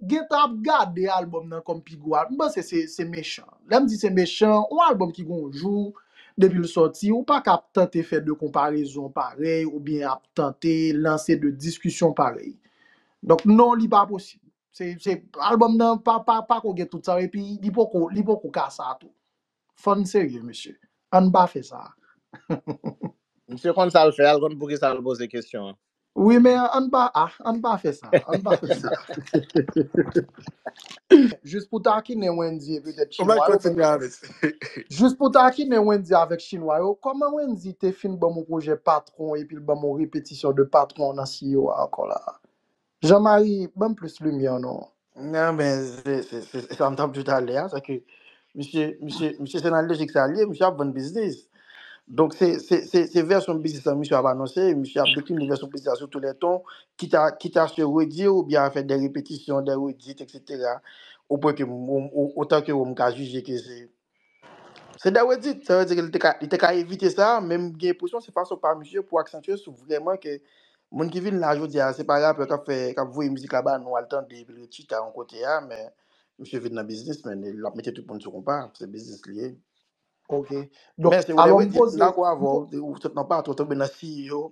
gentan ap gade album nan kòm pi gwo album, m panse se se mechan. Lè m di se mechan, yon album ki gen yon jou depi l sòti, ou pa ka ap tante fè 2 konparezon parèy oubyen ap tante lanse 2 diskisyon parèy. Donk non li pa posib. Se se album nan pa pa pako gen tout sa yo epi li poko li poko ka sa tou. Fò n serye mesye, an n pa fè sa a. Misye konn sa l fè a, l konn poukisa l poze kesyon an. Wi men an n pa a, an n pa fè sa a, an n pa fè sa a. Jis pou takinen Wendy e petèt Chinwa yo. Ou mèt kontinye avè sa. Jis pou takinen Wendy avèk Chinwa yo, kòman Wendy te fin ban m yon pwojè patwon epi l ban m yon repetisyon de patwon nan CEO a ankò la a? Jean Marie banm plis lumière non. Nan men se se se se sa m tap diw talè a se ke misye misye misye se nan lojik sa l ye misye ap vann biznis donk se se se se vèsyon biznis lan misye ap anonse misye ap dekline vèsyon biznis la sou tou lè ton kit a kit a se redi ou byen a fè dè repetisyon dè redit eksetera o pwen ke m o otan ke ou m ka jije ke se Se dè redit, sa vle di ke li te ka li te ka evite sa, men m gen enpresyon se fason pa misye pou aksantye sou vrèman ke moun ki vin la jodi a se pa rapè kap fè kap voye mizik la ba nou al tande epi l ret chita yon kote a men misye vin nan biznis men e lap mete tout moun sou konpa, se biznis li ye. Ok, donk Men se ou dè alò m redit, poze, lakou avè w, ou sot nan patou, w tonbe nan si yo.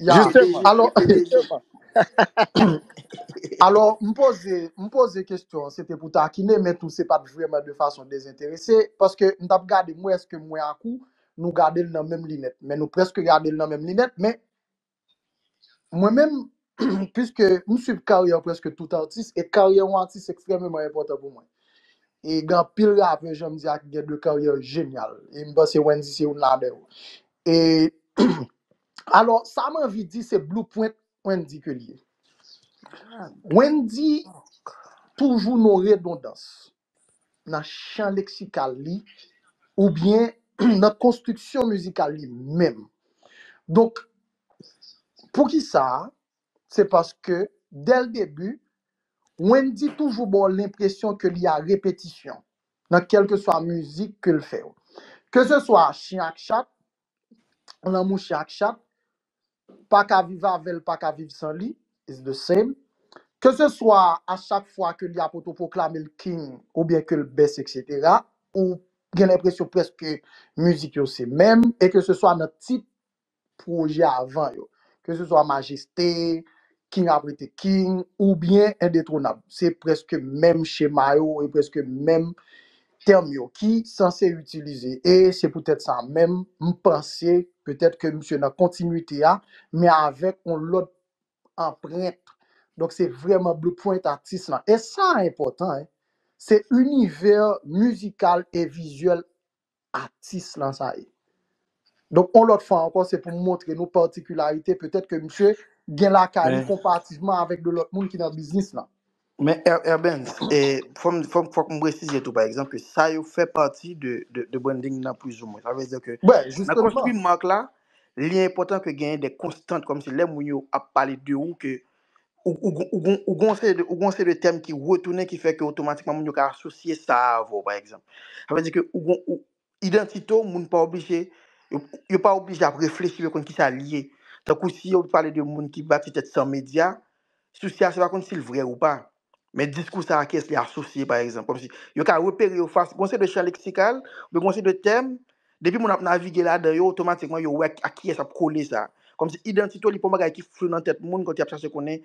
Ya, Kote Jistifman. alò, Jezi? Kote Jezi? Jistifman. alò, m poze, m poze kestyon, se te pou takinen, men tou se pat vrèman de fason dezenterese, paske m tap gade, m wè eske mwen ak ou, nou gade l nan menm linèt, men nou preske gade l nan menm linèt, men mwen menm, Piske m suiv karyè prèske tout atis, e karyè yon atis ekstrèmeman enpòtan pou mwen. E gen anpil rapè jan m di a ki gen de karyè jenyal. E m panse Wendyy se youn ladan yo. E alò, sa m anvi di se blueprint Wendyy ke l ye. Wendyy toujou nan redondans. nan chan leksikal li oubyen nan konstriksyon mizikal li menm. Donk, pou ki sa? Se paske, dè l debi, Wendy toujou ba w lenpresyon ke li a repetisyon nan kèlkeswa mizik ke l fè yo. Keseswa Chyen ak Chat, lanmou chien ak chat, paka viv avèl paka viv san li, is the same, ke se swa a chak fwa ke li ap otoproklamel king ou byen kel best etc ou gen lenpresyon preske mizik yo se menm e ke se swa nan tit pwojè avan yo, ke se swa majeste, king ap rete king ou byen endetwonab se preske menm chema yo e preske menm tèm yo ki sanse itilize e se poutèt sa menm m panse petèt ke misye nan kontinwite a men avèk yon lòt anprent donk se vrèman blueprint atis lan e sa a enpòtan hein se inivè mizikal e vizyèl atis lan sa ye donk yon lòt fwa ankò se pou m montre nou patikilarite petèt ke misye gen lakay li Men, konparativman avèk de lòt moun ki nan biznis lan Men Er- Erben, e, fòm, fòm, fòk m presize tou, pa egzanp, ke sa yo fè pati de, de, de branding nan pwizoumen. Sa vle di ke Bwè, nan jisteman. konstwi mark la, li enpòtan ke genyen de konstant, kòm si lè moun yo ap pale de ou ke ou, ou, gon- ou, gon- ou gon seri de, ou gon seri de tèm ki retounen ki fè ke otomatikman moun yo ka asosye sa a avè w, pa egzanp. Sa vle di ke ou gon, ou, Idantite w moun pa oblije, yo pa oblije ap reflechi pou yo konn kisa li ye. Tankou si yo pale de moun ki bati tèt san medya, sousi a se pa konn si l vrè ou pa. Men diskou sa a ki es li asosye pa egzanp. Kòmsi yo ka repere yo fas, gon se de chan leksikal, oubyen gon se de tèm, depi moun ap navige ladan yo otomatikman yo wè ak kiyès ap kole sa. Kòmsi idantite w li pa yon bagay ki flou nan tèt moun kote y ap chache konnen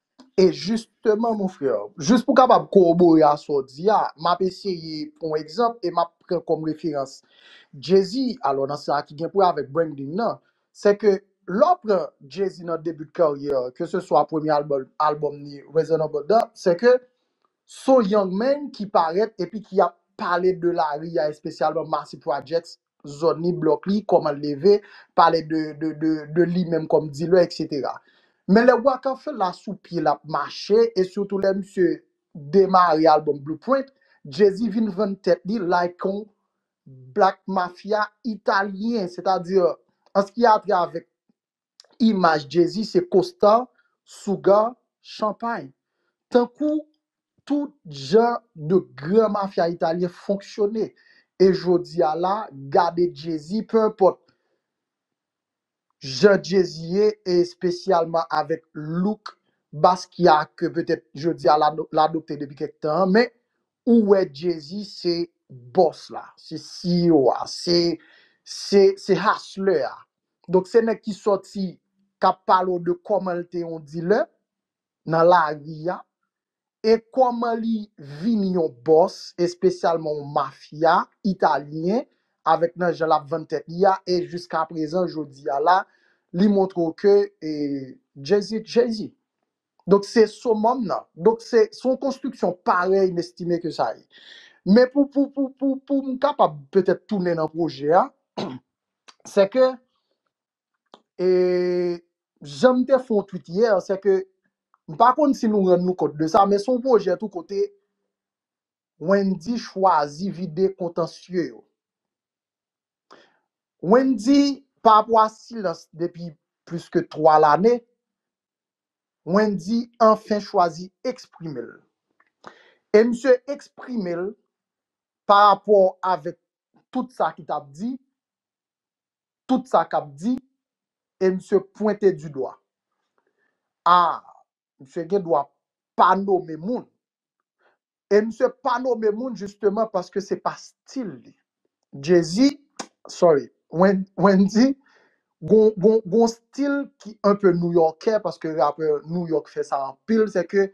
E jisteman mon frè, jis pou kapab kowobore a sa w di a, m ap eseye pran yon egzanp e m ap pran kòm referans Jezi, alò nan sa ki gen pou wè avèk branding nan, se ke lè w pran Jezi nan debi de karyè l, ke se swa premye album albòm li Reasonable Doubt, se ke s on young man ki parèt epi ki ap pale de lari a espesyalman Marcy Projects zòn li, blòk li, kòman l leve, pale de de de li menm kòm dilè eksetera. Men lè Wakan Fè la sou pye l ap mache e sitou lè misye demare albòm Blueprint, Jay-Z vin vann tèt li like on Black Mafia Italyen, sètadi an s ki a travè imaj Jezi se kosta, souga, chanpay. Tankou tout jan de gran mafya italyen fonksyone. E jodi a la, gade Jezi, pe enpòt jan Jezi ye, e espesyalman avèk look Basquiat ke petèt jodi a l adopte depi kèk tan an, men Ou wè Jay-Z se boss la, se CEO a, se se se hustler a. Donk se nèg ki sòti kap pale w de kòman l te yon dealer nan lari a e kòman li vini yon boss espesyalman yon mafya italyen avèk nan jan lap vann tèt li a e jiskaprezan jodi a la li montre w ke Jay-Z t Jay-Z. Donk se somòm nan. Donk se son konstriksyon parèy m estime ke sa ye. Men pou pou pou pou pou m kapab petèt tounen nan pwojè a, se ke e jan m te fè yon twit yè, se ke m pa konn si nou rann nou kont de sa, men son pwojè tou kote Wendy chwazi vide kontansye yo. Wendy, parapò a silans depi plis ke 3 lane, Wendy anfen chwazi eksprime l. E misye eksprime l parapò avèk tout sa ki t ap di, tout sa k ap di, e misye pwente du dwa. A! Misye gen dwa pa nome moun. E misye pa nome moun jisteman paske se pa stil li. Jay-Z, sorry, Wendy, gon stil ki anpe Nouyòkè paske rapè Nouyòk fè sa anpil, se ke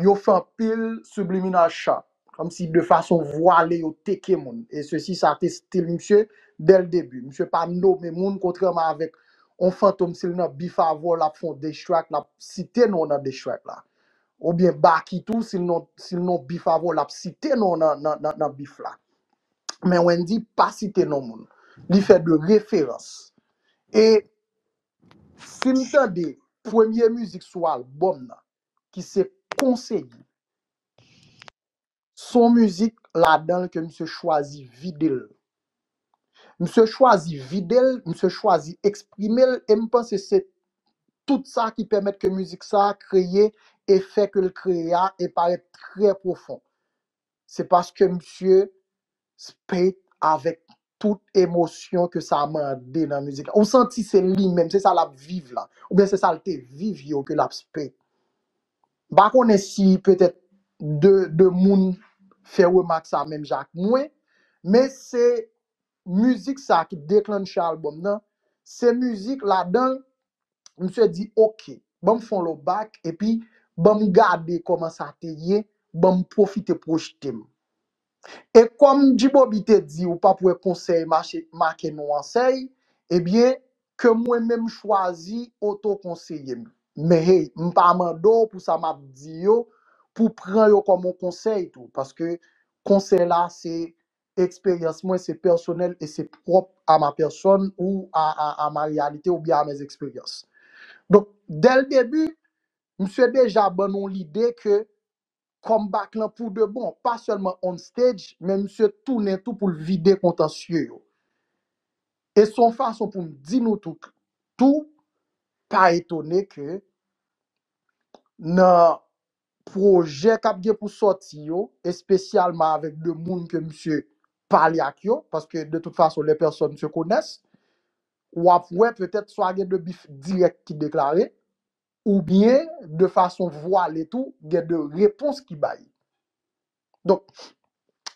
yo fè anpil subliminal shot. Kòm si de fason vwale yo teke moun. E sesi sa te stil misye dè l debi. Misye pa nome moun kontrèman avèk on Fantom si l nan bif avè w l ap fè on diss track l ap site non w nan diss track la. Oubyen Baky tou si l nan si l nan on bif avè w l ap site non w nan nan nan nan bif la. Men Wendy pa site non moun. Li fè de referans. E si n tande premye mizik sou albòm nan ki se konseye. Son mizik ladan l ke misye chwazi vide l. Misye chwazi vide l, misye chwazi eksprime l e m panse se tout sa ki pèmèt ke mizik sa a kreye efè ke l kreye a e parèt trè pwofon. Se paske misye spit avèk tout emosyon ke sa mande nan mizik la. Ou santi se li menm, se sa l ap viv la. Oubyen se sa l te viv yo ke l ap spit. M pa konnen si petèt 2 moun fè remak sa menm jan ak mwen, men se mizik sa ki deklannche album nan, se mizik ladanl misye di ok banm fon lo back epi banm gade koman sa te ye banm pwofite pwojetem. E kom G-Bobby te di ou pap wè konsèy mache make nou ansèy ebyen ke mwen menm chwazi oto konseyem men hey mpa mande w pou sa map di yo pou pran yo kom on konsèy tou paske konsèy la se Eksperyans mwen se pèsonèl e se pwòp a ma pèsòn ou a a a ma reyalite ou byen a mes eksperyans. Donk, dè l debi, msye deja ban nou lide ke comeback lan pou de bon, pa sèlman on stage, men msye tounen tou pou l vide kontansye yo. E s on fason pou m di nou tou k tou pa etone ke nan pwojè kap gen pou sòti yo, espesyalman avèk 2 moun ke misye pale ak yo, paske de tout fason les personnes se connaissent, wap wè petèt swa gen 2 bif dirèk ki deklare, oubyen de fason vwale tou gen 2 repons ki bay. Donk,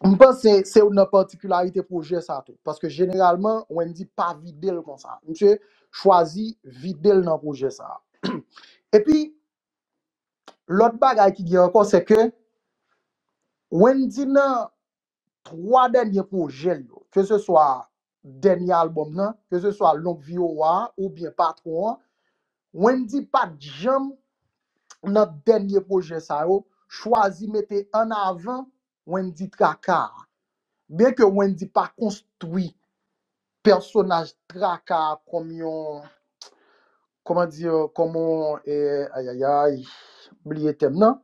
m panse se youn nan patikilarite pwojè sa tou, paske jeneralman Wendy pa vide l konsa, misye chwazi vide l nan pwojè sa. Epi, Lòt bagay ki gen ankò se ke Wendy nan 3 dènye pwojè l yo, ke se swa dènye albòm nan, ke se swa Longue Vie au Roi oubyen Patron an, Wendy pa t janm nan dènye pwojè sa yo chwazi mete an avan Wendy Traka a. Byen ke Wendy pa konstwi pèsonaj Traka a kòm yon, kòman di, kòm yon, ayayayy, m bliye tèm nan,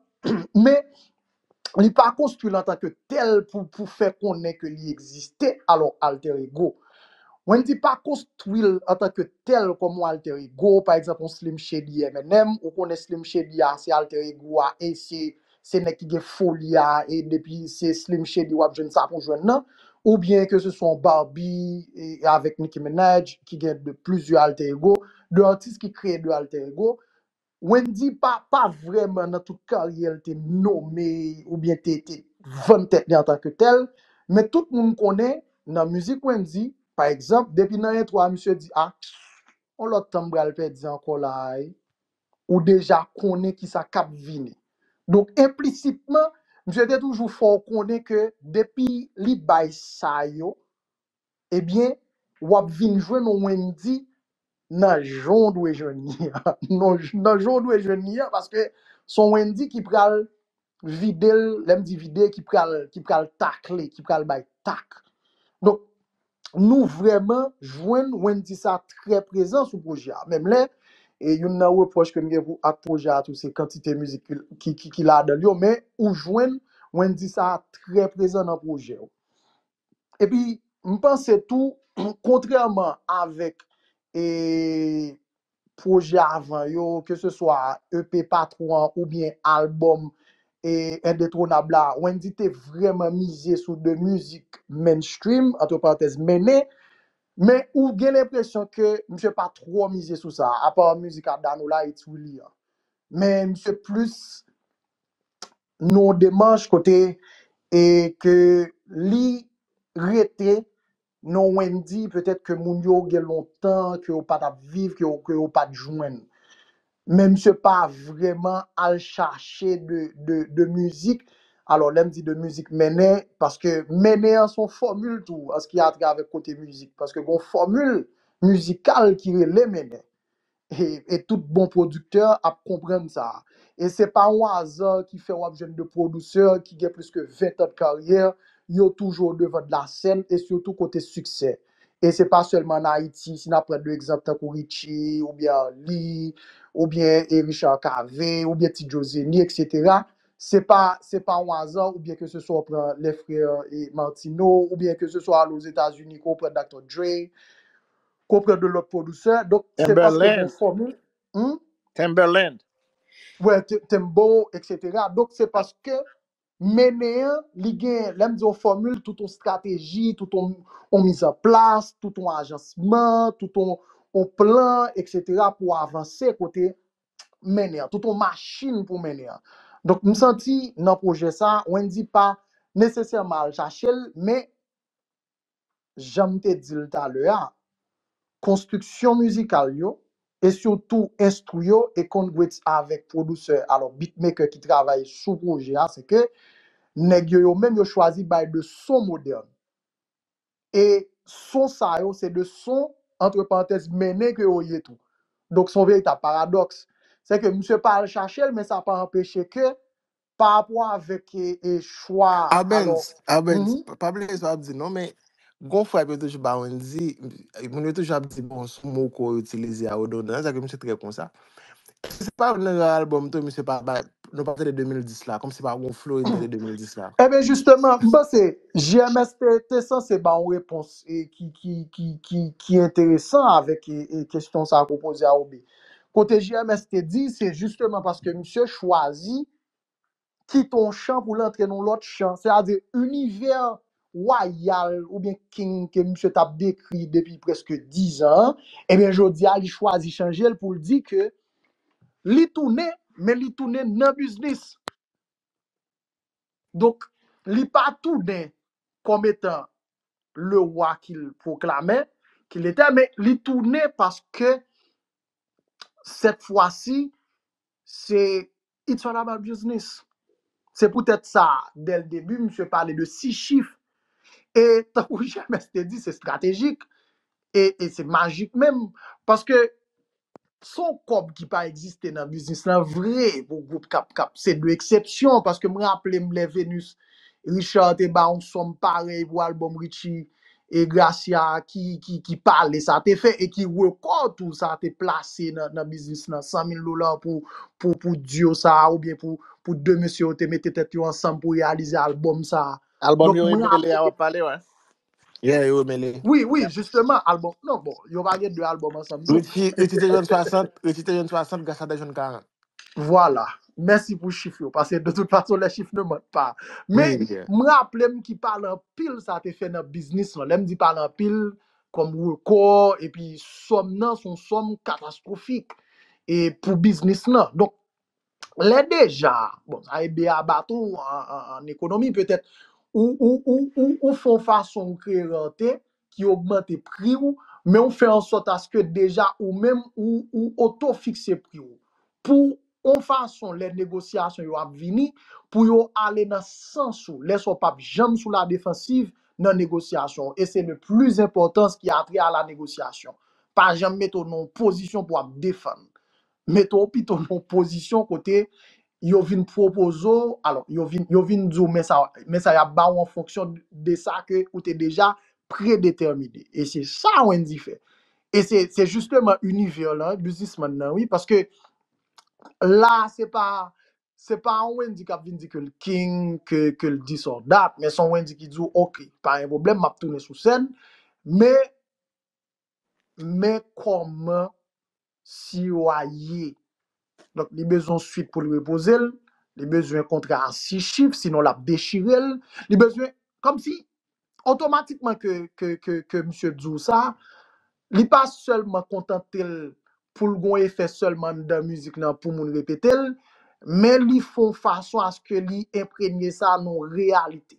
men li pa konstwi l antanke tèl pou fè konnen ke li egziste, alò alter ego. Wendy pa konstwi l antanke tèl kòm yon alter ego, pa egzanp yon Slim Shady MNM, ou konnen Slim Shady a se alter ego a e se se nèg ki gen foli a e depi se Slim Shady wap jwenn sa pou jwenn nan ou byen ke se swa yon Barbie e avèk Nicki Minaj ki gen de plizyè alter ego, de atis ki kreye de alter ego. Wendyy pa pa vrèman nan tout karyè l te nome ou byen te te vann tèt li antan ke tèl, men tout moun konnen nan mizik Wendyy pa egzanp depi nan entwo a misye di ah on lòt tan m pral pèdi ankò la a e. ou deja konnen ki sa k ap vini. Donk enplisitman, misye te toujou fè w konnen ke depi li bay sa yo, ebyen, w ap vin jwenn yon Wendy nan jan w dwe jwenn li an, nan jan w dwe jwenn li an, paske s on Wendy ki pral vide l, lè m di vide ki pral ki pral takle, ki pral bay tak. Donk nou vrèman jwenn Wendy sa trè prezan sou pwojè a. Menm lè e youn nan repwòch ke m gen pou ak pwojè a tou se kantite mizik ki ki ki ki ladan l yo men ou jwenn Wendy sa trè prezan nan pwojè ou. Epi m panse tou kontrèman avèk e pwojè avan yo, ke se swa EP Patwon an oubyen albòm Endetwonab la, Wendyy te vrèman mize sou 2 mizik mainstream, antre parantèz mene, men ou gen lenpresyon ke misye pa twò mize sou sa, apa mizik a Danola It's Willy an. Men misye plis nan yon demanch kote ke li rete Non Wendy, petèt ke moun yo gen lontan ke yo pa t ap viv, ke yo ke yo pa t jwenn. Men misye pa vrèman al chache de de de mizik, alò lè m di de mizik mennen, paske mennen an se yon fòmil tou an s ki atravè kote mizik, paske gen yon fòmil mizikal ki rele mennen. E e tout bon producteur ap konprann sa. E se pa on aza ki fè wap jwenn 2 pwoduseur ki gen plis ke 20 tan de karyè, yo toujou o devan de la sèn e sitou kote siksè. E se pa sèlman an Ayiti, si nap pran 2 egzanp tankou Richie ou byen Arly ou byen e Richard Cavé ou byen Ti Joe Zeni etc. Se pa se pa on aza ou byen ke se swa ou pran les frères e Martino ou byen ke se swa ale o Zeta Zuni ke ou pran Dr. Dre. Konpre de lòt pwodusè. Donk se paske gen fòmil. Timberland. Timberland. Wè, Timbo, eksetera. Donk se paske mennen an, li gen, lè m di yon fòmil, tout yon strateji, tout yon mizanplas, tout yon ajansman, tout yon plan, eksetera, pou avanse kote mennen an. Tout yon machin pou mennen an. Donk m santi nan pwojè sa, Wendy pa nesesèman al chache l, men janm te dil talè a, konstriksyon mizikal yo, e sitou enstru yo e konn gwets avèk pwodusè alò beatmaker ki travay sou pwojè a se ke nèg yo yo menm yo chwazi bay de son modèn e son sa yo se de son antre parantèz mennen ke yo ye tou donk son veritab paradòks se ke misye pa al chachel men sa pa anpeche ke pa rapò avèk e e chwa alò Arbenz, Arbenz, mhm. pa bliye sa wap di non, men gon frap yo toujou ba Wendy, moun yo toujou ap di bon sou mo ko yo itilize a odondan, nan sa ke misye trè konsa. Eske se pa nan rare album to misye pa bay, nou pa tande 2010 la, kom se pa gon flow Wendy tande 2010 la. Eh ben jisteman, m panse JMS te te sanse ba yon repons e ki ki ki ki ki enteresan avèk e e kesyon sa ke w poze a Roby. Kote JMS te di, se jisteman paske misye chwazi kite yon chan pou l antre nan yon lòt chan, sètadi inivè wayal oubyen king ke misye t ap dekri depi prèske dizan an, ebyen jodi a li chwazi chanje l pou l di ke li tounen, men li tounen nan biznis. Donk, li pa tounen kòm etan le wa ki l pwoklame, ki l ete, men li tounen paske sèt fwa si, se it's all about business. Se poutèt sa, dè l debi, misye pale de si chif. E tankou JMS te di, se estratejik, e se majik menm, paske Son kòb ki pa egziste nan biznis lan vre pou gwoup kap kap se de eksepsyon paske m raple m lè Venus Richard te ba yon sòm parèy pou albòm Richie e Gracia a ki ki pale sa te fè e ki rekò tou sa te plase nan nan biznis lan 100 mil dola pou pou pou duo sa a oubyen pou pou 2 mesye yo te mete tèt yo ansanm pou reyalize albòm sa a Album donk yo m rele a raple wap pale wè. Yeah, yo remele. Wi, wi, jisteman, albòm, non, bon, yo pa gen 2 albòm ansanm tou. Richie, Richie te jwenn 60, Richie te jwenn 60, Gracia te jwenn 40. Vwala, mèsi pou chif yo, paske de tout fason lè chif ne ment pa. Men, Wi, yeah. m raple m ki pale anpil sa te fè nan biznis lan. Lè m di pale anpil, kòm rekò, epi sòm nan son sòm katastwofik e pou biznis lan. Donk, Lè deja, bon sa e beaba tou an ekonomi petèt, ou ou ou ou ou fè yon fason ou kreye rante ki ogmante pri ou, men ou fè ansòt aske deja ou menm ou ou oto-fikse pri ou. Pou yon fason lè negosyasyon yo ap vini, pou yo ale nan sans ou, lè sa w pap janm sou la defansiv nan negosyasyon w, e se le plis enpòtans ki a trè a la negosyasyon. Pa janm mete w nan yon pozisyon pou w ap defann. Mete w pito nan yon pozisyon kote yo vin pwopoze w, alò, yo vin, yo vin di w men sa, men sa y ap ba w an fonksyon de sa ke ou te deja predetèmine. E se sa Wendy fè. E se, se jisteman inivè lan, biznismann nan wi, paske la a se pa, se pa yon Wendy k ap vin di ke l king, ke, ke l dis or that, men se yon Wendy ki di w, ok, pa gen pwoblèm, m ap tounen sou sèn, men men kòman siwo a ye. Donk li bezwen yon swit pou l repoze l, li bezwen kontra an 6 chif sinon l ap dechire l, li bezwen, kòmsi otomatikman ke misye di w sa, li pa sèlman kontante l pou l gen yon efè sèlman anndan mizik lan pou moun repete l, men li fè yon fason aske li enpremye sa nan yon reyalite.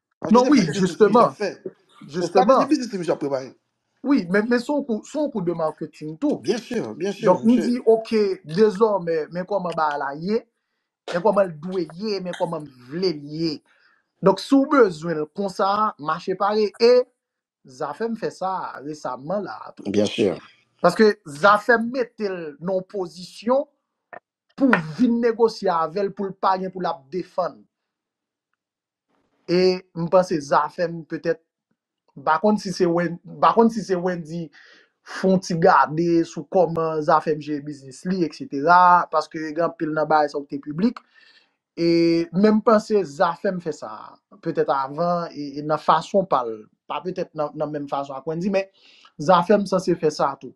Paske Non se pa wi, kite tout ti misye ap jisteman, fè. O strateji jisteman. biznis ti misye ap prepare. Wi, men men son kou, son kou de marketing tou. Byen sur, byen sur, Donk nou misye. di ok, dezòmè, men kòman bagay la ye, men kòman l dwe ye, men kòman m vle l ye. Donk si w bezwen l konsa, mache pare e Zafèm fè sa resamman la a tou. Byen sur. Paske Zafèm mete l nan yon pozisyon pou w vin negosye avè l pou l pa gen pou l ap defann. E m panse zafèm petèt m pa konn si se Wen m pa konn si se Wendy fon ti gade sou kòman zafèm jere biznis li etc paske gen anpil nan bagay sa yo ki te piblik e men m panse zafèm fè sa petèt avan e e nan fason pa l pa petèt nan nan menm fason ak Wendy men zafèm sanse fè sa tou.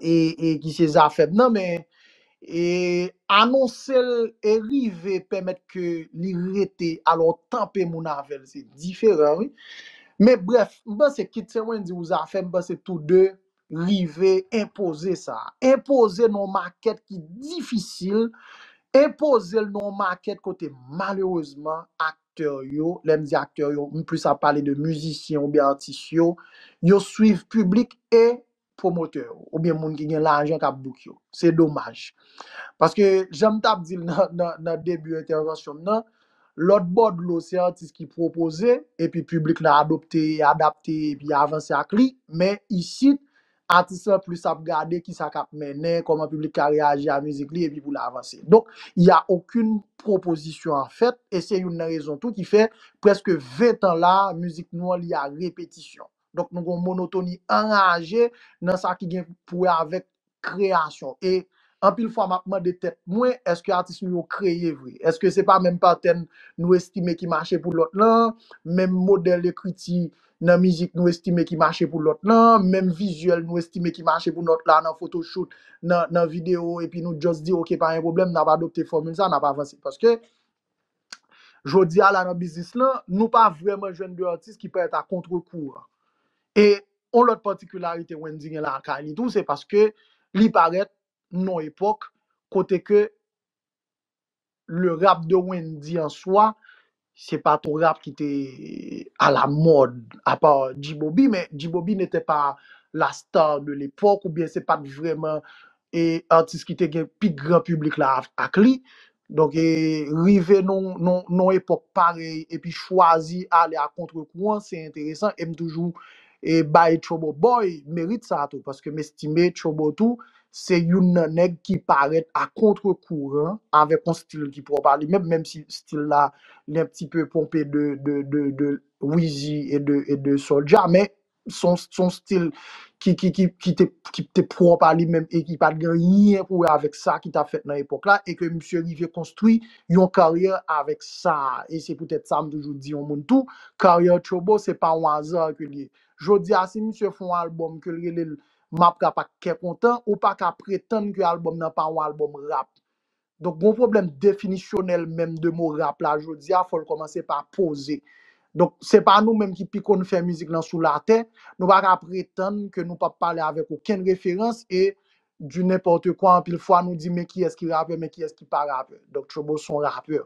e e ki se zafem nan men e anonse l e rive pèmèt ke li rete alò tanpe moun avèl se diferan wi men brèf m panse kit se Wendyy ou zafem m panse tou 2 rive enpoze sa enpoze nan yon makèt ki difisil enpoze l nan yon makèt kote malerezman aktè yo lè m di aktè yo m plis ap pale de mizisyen oubyen atis yo yo swiv piblik e pwomotè yo oubyen moun ki gen lajan k ap bouk yo. Se domaj. Paske, jan m t ap di l nan debi entèvansyon m nan, lòt bò dlo se atis ki pwopoze epi piblik la adopte, adapte epi avanse ak li. Men, isit, atis lan plis ap gade ki sa k ap mennen, kòman piblik ka reyaji a mizik li epi pou l avanse. Donk, il y a aucune proposition en fait e se youn nan rezon tou ki fè prèske ventan la a mizik nou an li a repetisyon. Donk nou gen yon monotoni anraje nan sa ki gen pou wè avèk kreyasyon. E anpil fwa m ap mande tèt mwen, èske atis nou yo kreye vre? Èske se pa menm patèn nou estime ki mache pou lòt lan, menm modèl ekriti nan mizik nou estime ki mache pou lòt lan, menm vizyèl nou estime ki mache pou lòt la nan fotochout, nan videyo, epi nou just di ok pa gen pwoblèm, n ap adopte fòmil sa, n ap avanse. Paske Jodi a la nan biznis lan, nou pa vrèman jwenn 2 atis ki parèt a kontre kouran. E yon lòt patikilarite Wendy gen lakay li tou se paske li parèt nan yon epòk kote ke le rap de Wendy an swa se pa t yon rap ki te a la mòd apa G-Bobby men G-Bobby n'était pas la star de l'époque oubyen se pa t vrèman atis ki te gen pi gran piblik la ak li. Donk e rive nan yon nan nan yon epòk parèy epi chwazi ale a kontre kouran se enteresan e m toujou e bay Trouble Boy merit sa a tou paske m estime Trouble tou se youn nan nèg ki parèt a kontre kouran avèk yon stil ki pwòp a li menm menm si stil la li un pti peu ponpe de de de de Weezy e de e de Soulja men son son stil ki ki ki ki te ki te pwòp a li menm e ki pa t gen anyen pou wè avèk sa ki t ap fèt nan epòk la e ke misye rive konstwi yon karyè avèk sa a e se poutèt sa m toujou di yon moun tou karyè Turbo se pa yon aza ke l ye jodi a si misye fè yon albòm ke l rele l m ap rap ak kè kontan ou pa ka pretann ke albòm nan pa yon albòm rap Donk gon pwoblèm definisyonèl menm de mo rap la jodi a fò l kòmanse pa poze. Donk se pa nou menm ki pi konn fè mizik lan sou latè, nou pa ka pretann ke nou p ap pale avèk okenn referans e du n'importe quoi anpil fwa nou di men kiyès ki rapè men kiyès ki pa rapè. Donk Turbo s on rapè.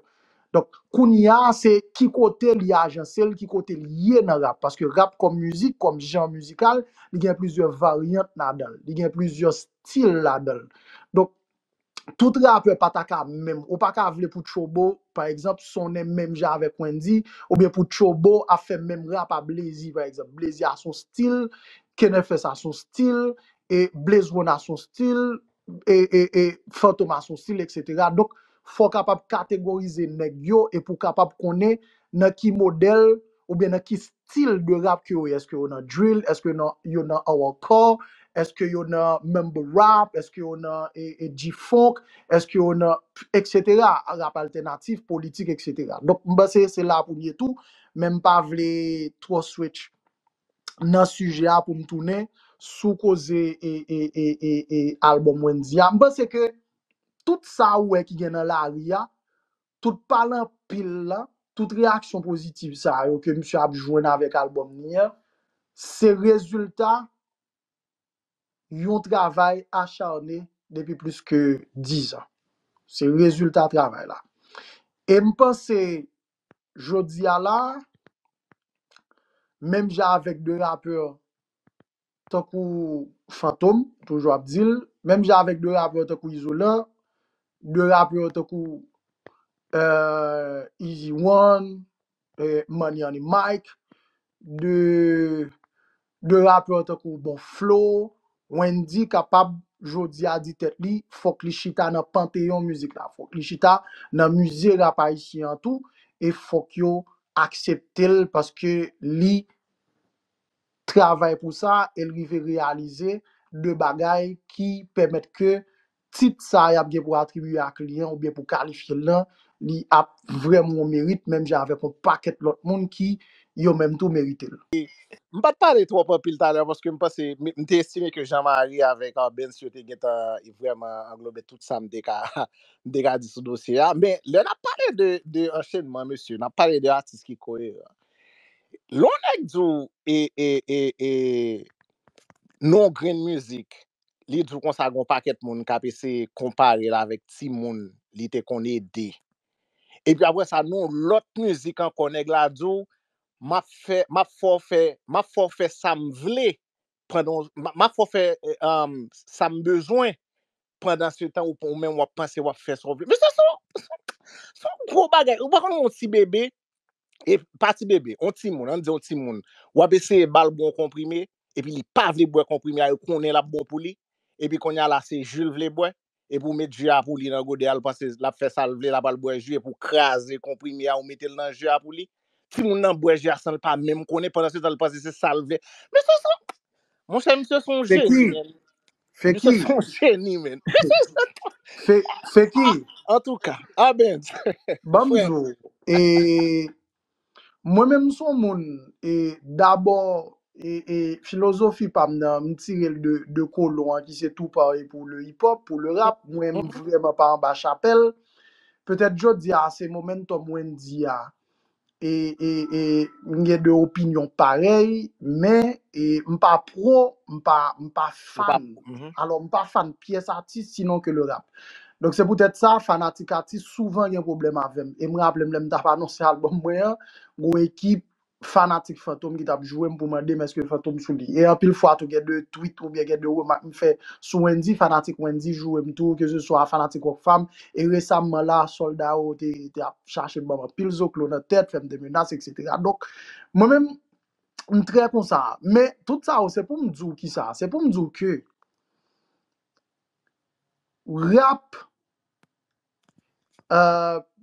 Donk kounya se ki kote li ajanse l, ki kote l ye nan rap paske rap kòm mizik, kòm jan mizikal li gen plizyè varyant ladan l, li gen plizyè stil ladan l. Donk tout rapè pa ta ka menm, ou pa ka vle pou Tchoubo pa egzanp sonnen menm jan avèk Wendy, oubyen pou Tchoubo ap fè menm rap a Blazy pa egzanp, Blazy a son stil, Kenfs a son stil, e Blaze One a son stil, e e e Fantom a son stil eksetera, donk fò w kapab kategorize nèg yo e pou w kapab konnen nan ki modèl oubyen nan ki. stil de rap ke yo ye eske yo nan drill eske nan yo nan awakò eske yo nan mumble rap eske yo nan e e G-funk eske yo nan etc rap altènatif politik etc donk m panse se la pou m ye tou men m pa vle twò switch nan sijè a pou m tounen sou koze e e e e e album Wendyy a m panse ke tout sa ou wè ki gen nan lari a tout pale anpil la, tout reyaksyon pozitiv sa yo ke misye ap jwenn avèk albòm ni an, se rezilta yon travay acharne depi plis ke 10 an. Se rezilta travay la. E m panse jodi a la a, menm jan avèk 2 rapè tankou Fantom toujou ap di l, menm jan avèk 2 rapè tankou Izolan, 2 rapè tankou Easy one, Money on the Mike, 2 rapè tankou Bon Flo, Wendyy kapab jodi a di tèt li fòk li chita nan panteyon mizik la, fòk li chita nan mize rap ayisyen an tou e fòk yo aksepte l paske li travay pou sa e l rive reyalize 2 bagay ki pèmèt ke tit sa y ap gen pou atribye ak li an oubyen pou kalifye l lan, li ap vrèman yon merit menm jan avèk yon pakèt lòt moun ki yo menm tou merite l. M pa t pale twòp anpil talè paske m panse, m te estime ke Jean Marie avèk Arbense yo te gentan vrèman anglobe tout sa m te ka m te ka di sou dosye a. Men lè n ap pale de de anchenman mesye, n ap pale de atis ki koyeran. Lè yon nèg di w e e e e nou yon grenn mizik, li di w konsa gen yon pakèt moun k ap eseye konpare l avèk timoun li te konn ede. Epi apre sa nou yon lòt mizik ankò nèg la di w m ap fè m ap fè w fè m ap fè w fè sa m vle pandan map fè w fè sa m bezwen pandan se tan ou menm wap panse wap fè sa w vle. Mesye se yon gwo bagay. Ou pa konnen yon ti bebe, pa ti bebe, yon timoun, ann di yon timoun, wap eseye ba l bon konprime epi li pa vle bwè konprime a, yo konnen lap bon pou li epi kounye a la se ji l vle bwè. epi ou met ju a pou li nan gode a l panse lap fè sal vle la pral bwè ju epi ou kraze konprime a ou metel nan ju a pou li timoun nan bwè ju a sanl pa menm konnen pandan se tan l panse se sal vle mesye son monchè misye son jeni menn misye son jeni menn antouka abens frèm. Mwen menm m son moun e dabò e e filozofi pam nan m tirel de de kolon an ki se tou pare pou le hip hop pou le rap mwen m vrèman pa anba chapèl petèt jodi a se momentum Wendy a e e e m gen de opinyon parèy men e m pa pro m pa m pa Ou pa fan mhm. alò m pa fan pyès atis sinon ke le rap Donk se poutèt sa, fanatik atis souvan gen pwoblèm avè m. E m raple m lè m t ap anonse albòm mwen an, gwo ekip fanatik Fantom ki t ap jwe m pou mande m èske Fantom sou li. E anpil fwa tou gen de twit oubyen gen de remak m fè sou Wendyy, fanatik Wendyy joure m tou, keseswa fanatik Rockfam. E resamman la, sòlda yo te te ap chache ban m anpil zoklo nan tèt, fè m de menas eksetera. Donk, mwen menm, m trè konsa. Men, tout sa yo se pou m di w kisa? Se pou m di w ke Rap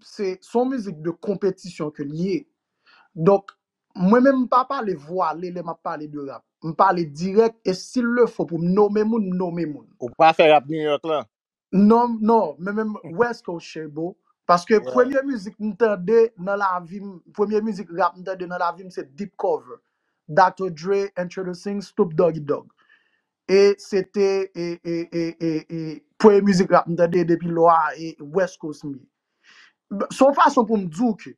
se son mizik de konpetisyon ke li ye. Donk, mwen menm m pa pale vwale lè m ap pale de rap. M pale dirèk e si l le fo pou m nome moun, m nome moun. Ou pa fè rap New York lan? Non, non. Mwen menm West Coast Che Bo. Paske premye mizik m tande nan lavi m, premye mizik rap m tande nan lavi m se Deep Cover. Doctor Dre introducing Snoop Doggy Dogg. E se te e e e e e premye mizik rap m tande depi lò a e West Coast m ye. B- S on fason pou m di w ke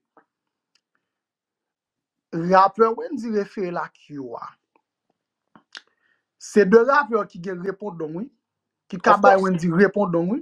rapè Wendyy refere l ak yo a, se de rapè ki gen repondong wi, ki ka Of bay course. Wendyy repondong wi.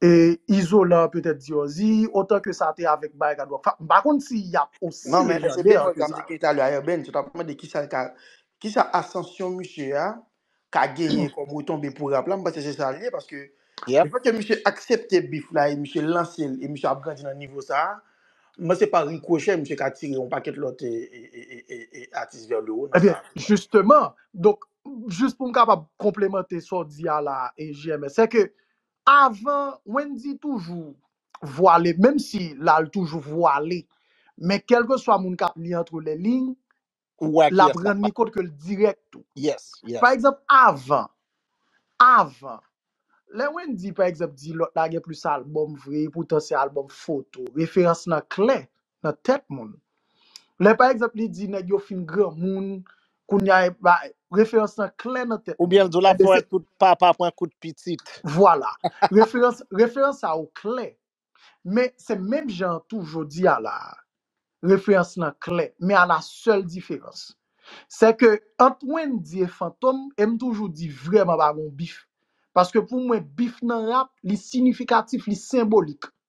E Izolan petèt Diòzi, otan ke sa te avèk Baerga Dwòk Fap, m pa konn si y ap osi Nan men lè se lejandè an Deborah ke sa. Gamze ki reta la Urbaine, se ta pou mande kisa l ka kisa asansyon misye a ka genyen kòm retonbe pou rap la, m panse se sa l ye paske Yep. le fèt ke misye aksepte beef la e misye lanse l e misye ap grandi nan nivo sa a, m panse pa rikrochè misye ka tire yon pakèt lòt e, e, e, e, e, e atis vers le haut nan Ebyen, sa a tou. jisteman, donk, jis pou m kapab konplemante sa w di a la, e JMS, sè ke Avan Wendy toujou vwale menm si la l toujou vwale men kelkeswa moun kap li antre le lign Ou wè ki lap yès kap rann li pale. kont ke l dirèk tou. Yes, Pa yes. egzanp avan, avan lè Wendy pa egzanp di lòt la gen plis album vre poutan se album foto referans lan klè nan tèt moun. Lè pa egzanp li di nèg yo fin granmoun, kounya e ba referans lan klè nan tèt Oubyen moun. l di w l ap Enben fè se kout papa pran kout pitit. Vwala. Referans referans sa yo klè. Men se menm jan an tou jodi a la a. Referans lan klè. Men a la sèl diferans. Se ke ant Wendyy e Fantom e m toujou di vrèman pa gen yon bif. Paske pou mwen bif nan rap li sinifikatif, li senbolik.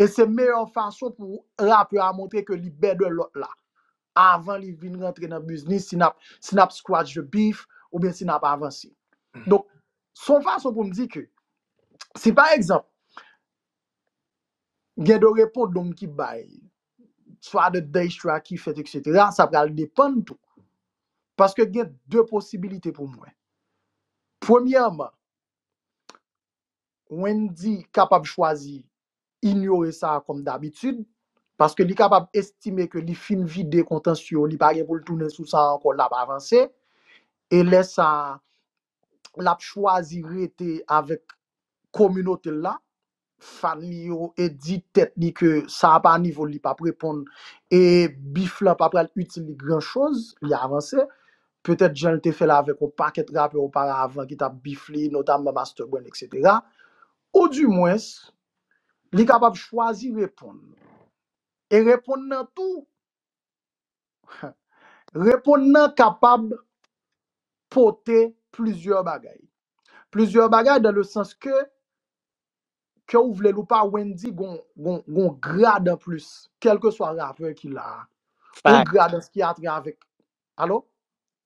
E se meyè fason pou rapè a montre ke li bè de lòt la avan li vin rantre nan biznis si nap si nap scratch the beef oubyen si nap avanse. Donk se yon fason pou m di ke si pa egzanp gen de repondong ki bay swa de daystra ki fèt eksetera sa pral depann tou paske gen de posibilite pou m wè. Premyèman Wendy kapab chwazi inyore sa kòm dabitid, paske li kapab estime ke li fin vide kontans yo, li pa gen pou l tounen sou sa ankò, l ap avanse. E lè sa a, l ap chwazi rete avèk kominote l la, fan li yo, e di tèt li ke sa a pa nivo l, li p ap reponn, e bif lan pa pral itil li gran choz, li avanse. petèt jan l te fè l avèk yon pakèt rapè oparavan ki t ap bif li, notamman Master Brand eksetera, ou di mwens li kapab chwazi reponn e reponn nan tou, reponn nan kapab pote plizyè bagay. Plizyè bagay dan le sans ke, ke ou vle l ou pa Wendyy gon, gon, gon grad anplis, kèlkeswa rapè ki la a, yon Fact. gradans ki atre avèk Alo?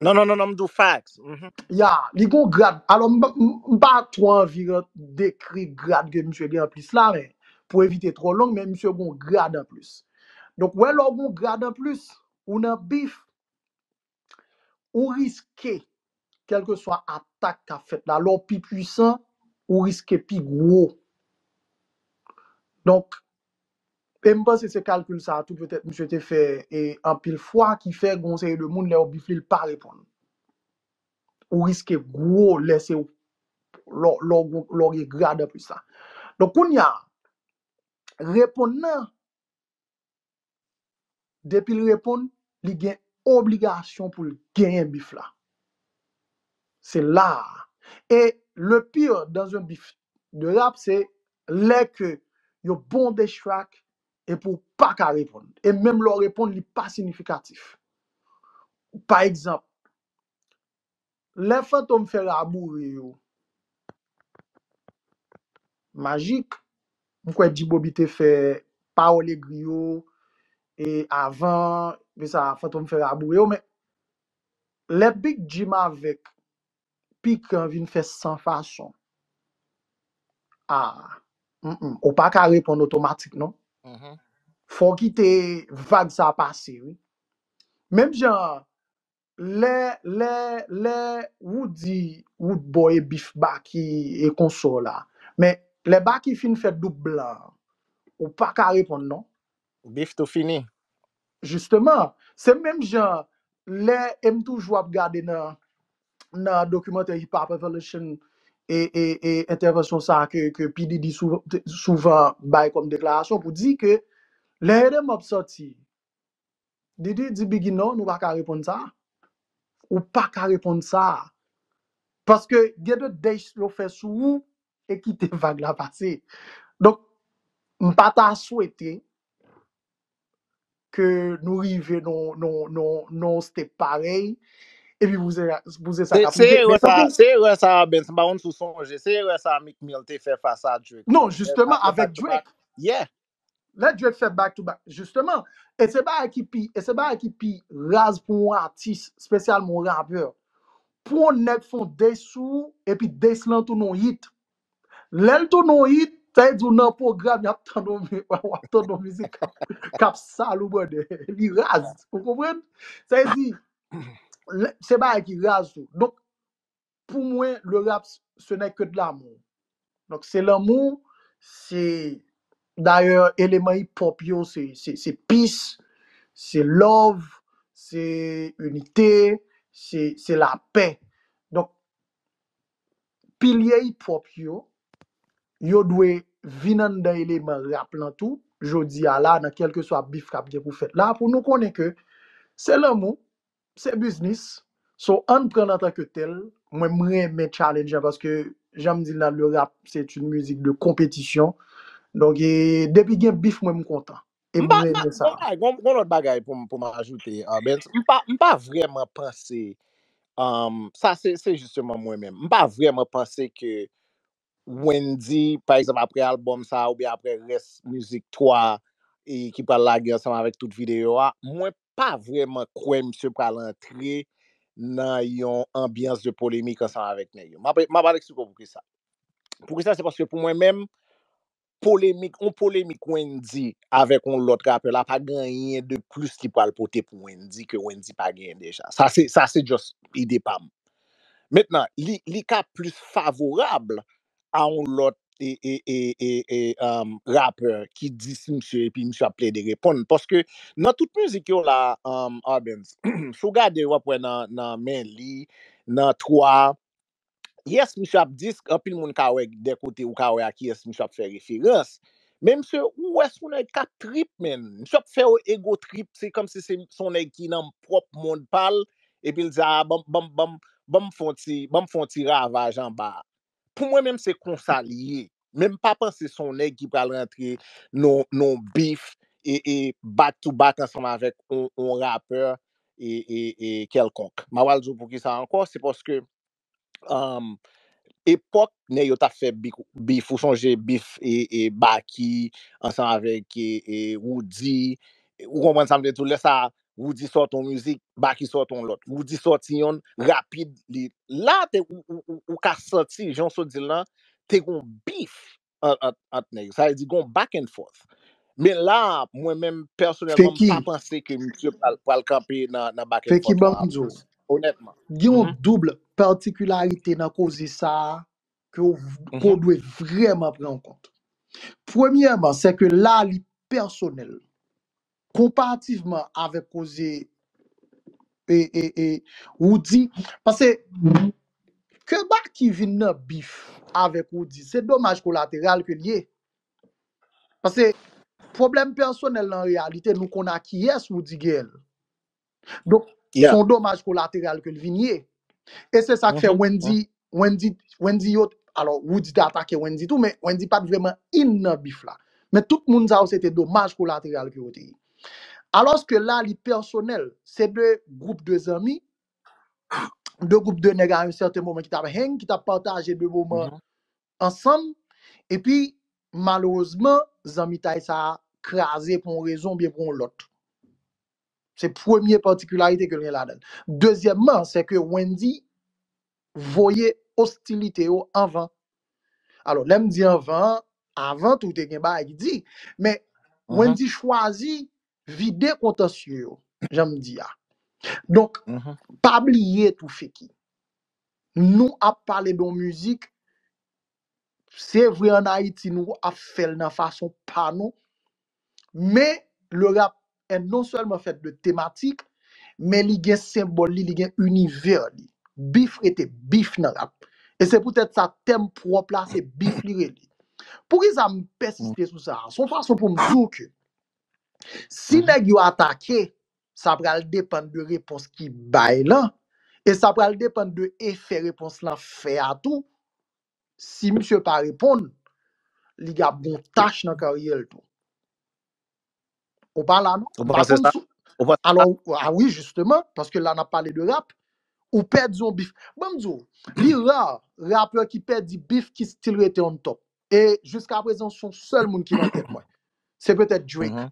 Non, non, non, non, m di w fax. Mhm. Ya, li gon grad. Alo, m pa m- m pa twò anvi ran- dekri grad ke misye gen anplis la, men pou evite twò long, men misye gon grad anplis. Donk, wè lè w gon grad anplis, ou nan bif, ou riske. Kèlkeswa atak k ap fèt la, lè w pi pwisan, ou riske pi gwo. Donk, e m panse se kalkil sa a tou petèt misye te fè anpil fwa ki fè gen yon seri de moun lè yo bifle l pa reponn. Ou riske gwo lè se w, lè w gen grade anplis la. Donk kounye a, reponn nan Depi l reponn, li gen obligasyon pou l genyen bif la. Se la a. E le pire dans un bif de rap se lè ke yo bon des track epi w pa ka reponn. E menm lè w reponn li pa sinifikatif. Pa egzanp, Lè fantom fè raboure yo. Majik. M kwè G-bobby te fè pawòl egri yo e avan de sa fantom fè raboure yo men lè big jim avèk pikan vin fè san fason ah humm ou pa ka reponn otomatik non fò w kite vag sa pase wi menm jan Lè lè lè wou di wou t bo e bif baky e konso la men lè baky fin fè doub blan an ou paka reponn non. Bif tou fini. Justement, se menm jan lè e m toujou ap gade nan nan dokimantè Hip Hop Evolution e e e entèvansyon sa a ke ke P Diddy sou souvan bay kòm deklarasyon pou di ke lè Hit 'Em Up sòti Didi di Biggy non nou pa ka reponn sa. Ou pa ka reponn sa. Paske gen de dates yo fè sou ou e kite vag la pase. Donk m pa ta swete ke nou rive nan yon step parèy epi pou se sa k ap rive. Men tankou. Se erè sa a Benz, m pa konn si w sonje, se erè sa a Meek Mill te fè fas a Drake. Non jisteman avèk Drake. Yeah. Let Drake fè back to back justement e se bagay ki pi e se bagay ki pi raz pou yon atis spesyalman yon rapè pou yon nèg fon diss sou ou epi diss lan tounen yon hit lè l tounen yon hit sa vle di w nan pwogram yap tande yon mi wap tande yon mizik kap kap sal ou brother li raz ou konprann sa vle di lè se bagay ki raz tou donk Pou mwen le rap ce n'est que de l'amour. Donk se lanmou, se dayè eleman hip hop yo se se peace, se love, se inite, se se lapè. Donk pilye hip hop yo, yo dwe vin anndan eleman rap lan tou jodi a la nan kelkeswa bif k ap gen pou fèt la pou nou konnen ke se lanmou, Se biznis, so ann pran l antan ke tèl. Mwen m renmen challenge an paske jan m di l nan le rap se t yn mizik de konpetisyon. Donk e depi gen bif mwen m kontan. E M m pa, m pa, renmen sa. gon bagay, gon, gon lòt bagay pou m, pou m ajoute euh, Bens. M pa, m pa vrèman panse, um, sa se, se jisteman mwen menm. M pa vrèman panse ke Wendyy pa egzanp aprè album sa oubyen aprè rès mizik 3 e ki pral lage ansanm avèk tout videyo a mwen pa vrèman kwè misye pral antre nan yon anbyans de polemik ansanm avèk nèg yo map map al eksplike w poukisa poukisa se paske pou mwen menm polemik, yon polemik Wendy avèk yon lòt rapè la pa gen anyen de plis ki pral pote pou Wendy ke Wendy pa genyen deja. Sa se, sa se just ide pa m. Mentnan, li, li ka plis favorab a yon lòt e, e, e, e, e, um, rapè ki dis misye epi misye ap plede reponn. Paske nan tout mizik yo la, um, Arbenz, si w gade w ap wè nan, nan men li, nan 3, Yes misye ap disk anpil moun ka wè de kote ou ka wè a kiyès misye ap fè referans men misye ou wè son nèg kap trip menn misye ap fè yon ego trip se kòmsi se son nèg ki nan pwòp mond pal epil di aa banm banm banm banm fon ti banm fon ti ravaj anba pou mwen menm se konsa li ye menm pa panse son nèg ki pral rantre non non bif e e back to back ansanm avèk on on rapè e e e kèlkonk ma pral di w poukisa ankò se paske um epòk nèg yo tap fè bik bif ou sonje bif e e baky ansanm avèk e e roody ou konprann sa m vle di w lè sa Roody sòt yon mizik, Baky sòt yon lòt. Roody sòti yonn, rapid li la te ou ka santi jan w sot di l lan te gon bif ant nèg yo. Sa vle di gon back and forth. Men la a mwen menm pèsonèlman m pa panse ke misye pral kanpe nan back and forth lan anpil onètman. Gen yon doub patikilarite nan koze sa a ke w dwe vrèman pran an kont. Premyèman sè ke la a li pèsonèl. konparativman avèk koze e e e Roody pase ke Baky vin nan bif avèk Roody se domaj kolateral ke l ye pase pwoblèm pèsonèl lan an reyalite nou konn a kiyès Roody gen l Donk, Yeah. son domaj kolateral ke l vin ye. E se sa k fè Mhm. Wendy, Wendy, Wendy yo, alò, Woody te atake Wendy tou, men Wendy pat vreman in nan bif la. Men tout moun sa yo se te domaj kolateral ke yo te ye. Alòs ke la li pèsonèl, se de gwoup de zanmi, de gwoup de nèg a yon sèten moman ki tap hang, ki tap pataje de moman Mhm. ansanm, epi malerezman zanmitay sa a kraze pou yon rezon byen pou yon lòt. Se premye patikilarite ke l gen ladan l. Dezyèmman, se ke Wendy voye ostilite yo anvan. Alò, lè m di anvan an, avan tou te gen bagay ki di, men Wendy chwazi vide kontansye yo, jan m di a. Donk, pa bliye tou Feki, nou ap pale de yon mizik Se vre an Ayiti nou ap fè l nan fason pa nou, men le rap est non sèlman fèt de tematik, men li gen senbòl li, li gen inivè li. Bif rete bif nan rap. E se poutèt sa tèm pwòp la se bif li rele. Poukisa m pèsiste sou sa a? S on fason pou m di w ke si nèg yo atake, sa pral depann de repons ki bay lan, e sa pral depann de efè repons lan fè a tou si misye pa reponn li gab gon tach nan karyèl tou ou pa la non Ou mpa panse konn sa? sou Ou panse sa? alors ah oui justement parce que là n'a parlé de rap ou pèdi yon bif banm di ou li rare rappeur ki pèdi bif ki still rete on top et jusqu'à présent son sèl moun ki nan tèt mwen se peut-être Drake Mhm.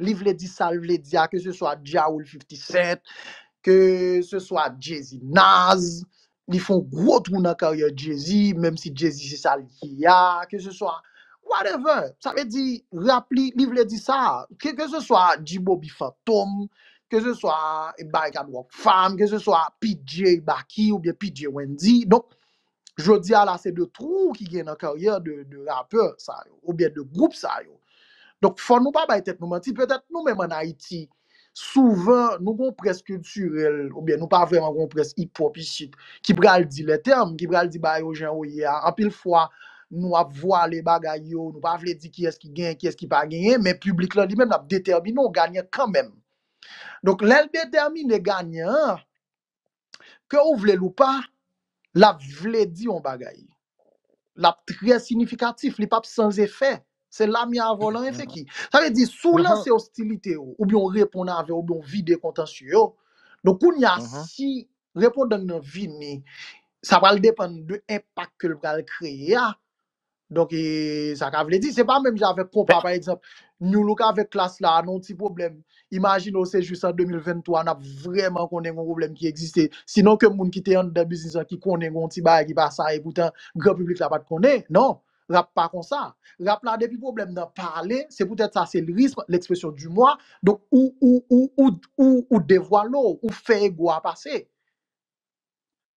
li vle di sal vle di a ke se swa Ja Rule 50 Cent, ke se swa Jay-Z Nas, li fon gwo twou nan karyè Jay-Z, menm si Jay-Z se sa li ye a, ke se swa whatever, sa vle di rap li, li vle di sa, ke se swa G-Bobby Fantom, ke se swa Barikad Rock Fam, ke se swa PJ Baky oubyen PJ Wendy, donk Jodi a la se de trou ki gen nan karyè de rapè sa yo ou byen de gwoup sa yo. Donk fò nou pa bay tèt nou manti, petèt nou menm an Ayiti souvan nou gon près kiltirèl ou byen nou pa vrèman gon près hip hop isit ki pral di lè tèm, ki pral di bagay yo jan yo ye a. Anpil fwa nou ap vwale bagay yo, nou pa vle di kiyès ki genyen, kiyès ki pa genyen, men piblik lan li menm l ap detèmine w ganyan kanmenm. Donk lè l detèmine ganyan an, Ke ou vle l ou pa, l ap vle di yon bagay. L ap trè sinifikatif, li p ap san efè. Se la mi a vòlò efè ki. Sa vle di, si w lanse ostilite yo, oubyen w reponn avè yo, oubyen w vide kontansye yo, donk kounye a, si repondan nan vini, sa pral depann de enpak ke l pral kreye a, Donk e sa ka vle di, se pa menm jan avèk konpa pa egzanp, Nu Look avèk Klass la nan yon ti pwoblèm, imajine w se jis an 2023 n ap vrèman konnen gen yon pwoblèm ki egziste, sinon ke moun ki te anndan biznis lan ki konnen gen yon ti bagay ki pa sa e poutan gran piblik la pa t konnen, non, rap pa konsa. Rap la depi pwoblèm nan pale, se poutèt sa se lyrisme, l'expression du moi, donk ou, ou, ou, ou, ou devwale w, ou fè ego a pase.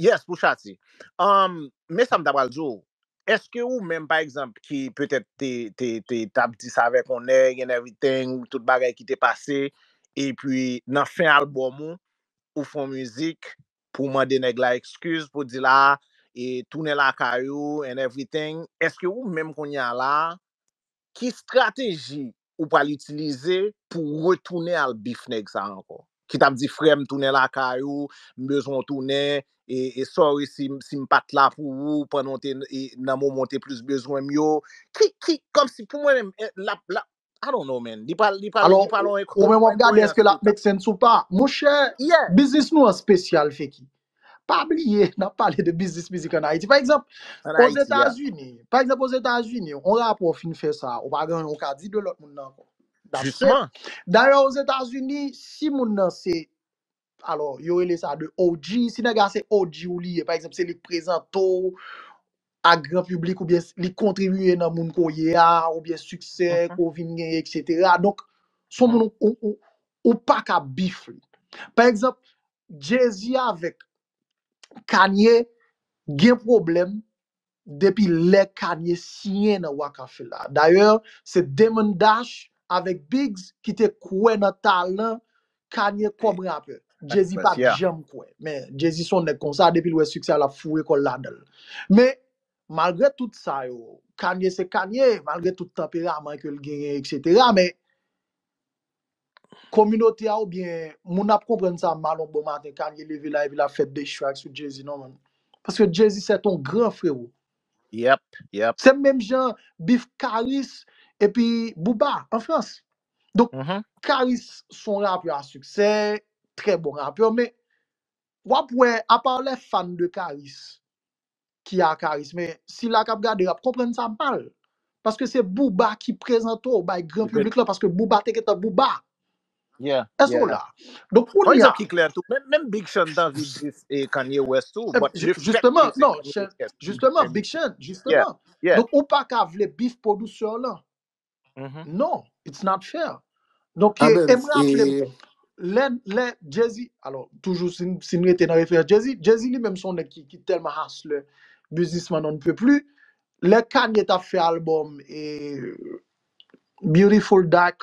Yes pou chati. Umm men sam ta pral diw, eske ou menm pa egzanp ki petèt te te te tap di sa avèk yon nèg and everything tout bagay ki te pase epi nan fen album ou ou fon mizik pou mande nèg la ekskiz pou dil a e tounen lakay ou and everything eske ou menm kounya la Ki strateji ou pral itilize pou retounen al bif nèg sa ankò? Ki tap di frèm tounen lakay ou, m bezwen w tounen, e sorry si m pat la pou ou pandan w te nan moman w te plis bezwen m yo. Ki, ki, kòmsi pou mwen menm lap, lap, I don't know man, li pral, li pral, li pral on enkoyans total. Alò, ou menm wap gade èske lap make sense ou pa. Monchè, biznis nou an spesyal Feki. Pa bliye, n ap pale de biznis mizik an Ayiti. Pa egzanp, An Ayiti, ya. Ozetazini, pa egzanp Ozetazini, yon rapò fin fè sa, ou pa gen anyen ou ka di de lòt moun nan ankò. That's it. Jisman. Dayè Ozetazini, si moun nan se, alò, yo rele sa de OG, si nèg la se OG ou li ye, pa egzanp, se li k prezante w ak gran piblik oubyen s- li kontribiye nan moun ke w ye a, oubyen siksè ke w vin genyen, eksetera. Donk, son moun ou, ou, ou, ou pa ka bif li. Pa egzanp, Jay-Z avèk Kanye gen pwoblèm depi lè Kanye siyen nan Roc-A-Fella. Dayè, se Damon Dash avèk Biggs ki te kwè nan talan Kanye kòm rapè. Jay-Z pa t janm kwè. Men, Jay-Z s on nèg konsa, depi l wè siksè a l ap foure kò l ladan l. Men, malgre tout sa yo, Kanye se Kanye, malgre tout tanperaman ke l genyen eksetera, men, Kominote a oubyen moun ap konprann sa mal yon bon maten Kanye leve la epi lap fè diss track sou Jay-Z non man. Paske Jay-Z se ton gran frero. Yep, yep. Se menm jan bif Karis epi Booba an Frans. Donk Karis se yon rapè a siksè, trè bon rapè men wap wè apa lè fan de Karis ki a karis men sila kap gade yo ap konprann sa mal paske se booba ki prezante w bay gran piblik la paske booba te gentan booba èske w la donk kounye a Yon egzanp ki klè tou menm big sean t anvi dis kanye west tou but le fèt ke li se kanye west jisteman jisteman big sean jisteman donk ou paka vle bif producer w lan Mhm. Non, it's not fair. Donk, e, Amen. e m raple m, E lè, lè Jay-Z, alò, toujou si m si m rete nan referans Jay-Z, Jay-Z li menm son nèg ki, ki tèlman hustler, businessman on ne peut plus, lè Kanye t ap fè album e Beautiful Dark,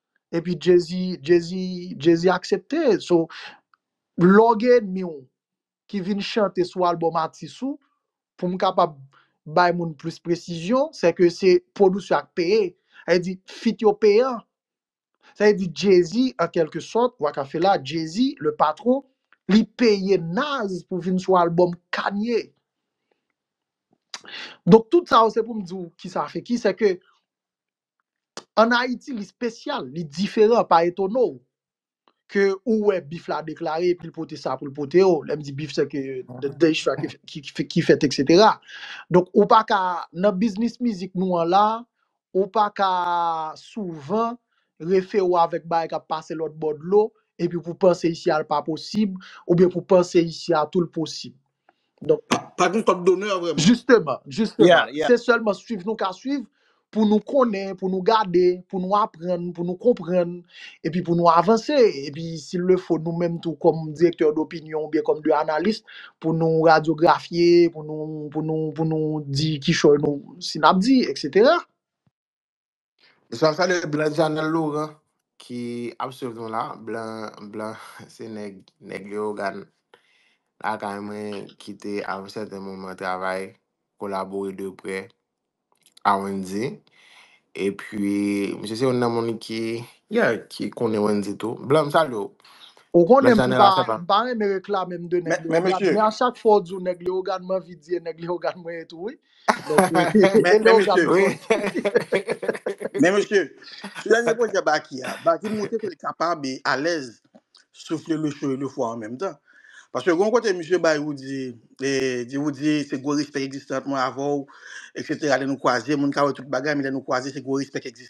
epi jezi jezi jezi aksepte so lè w gen enmi w ki vin chante sou album atis ou pou m kapab bay moun plis presizyon se ke se pwodusè a k peye sa vle di feat yo peyan sa vle di jezi an kelke sòt Roc-A-Fela jezi le patron li peye Naz pou vin sou album Kanye donk tout sa yo se pou m di w kisa feki se ke An Ayiti li spesyal, li diferan, pa etone w ke ou wè bif la deklare epi l pote sa pou l pote yo, lè m di bif se ke dechra ki fèt eksetera. Donk ou pa ka, nan biznis mizik nou an la, ou pa ka souvan refe w avèk bagay k ap pase lòtbò dlo epi pou panse isi a l pa posib oubyen pou panse isi a tou l posib. Donk pa pa gen kòd donè vrèman. Jisteman, jisteman. Yeah, yeah. Se sèlman swiv nou ka swiv pou nou konnen, pou nou gade, pou nou aprann, pou nou konprann, epi pou nou avanse. Epi sil le fo nou menm tou kòm direktè dopinyon oubyen kòm de analis pou nou radyografye, pou nou pou nou pou nou di kichòy nou si n ap di, eksetera. Mesye ap salye blan Janel Laurent ki ap swiv nou la. Blan, blan se nèg, nèg Leyogàn lakay mwen ki te a yon sèten moman travay, kolabore de prè a Wendy. E pi, misye se youn nan moun ki, yeah, ki konnen Wendy tou. Blan, m salye w. Ou Blan konnen m, m Janel pa, ap salye m pa renmen reklame m de nèg Men, men Leyogàn, mesye, men a chak fwa w di w nèg Leyogàn, m anvi di e nèg Leyogàn mwen ye tou wi. Donk se Men, se lè men w ka misye, Oui. bezwen. men misye, sou dènye pwojè Baki a, Baki montre ke l kapab e alèz soufle le cho e le fwa an menm tan. Paske gon kote misye bay Woody, e, di Woody se gwo respèk egzistans mwen avè w, eksetera. Lè nou kwaze, moun ka wè tout bagay, men lè nou kwaze se gwo respèk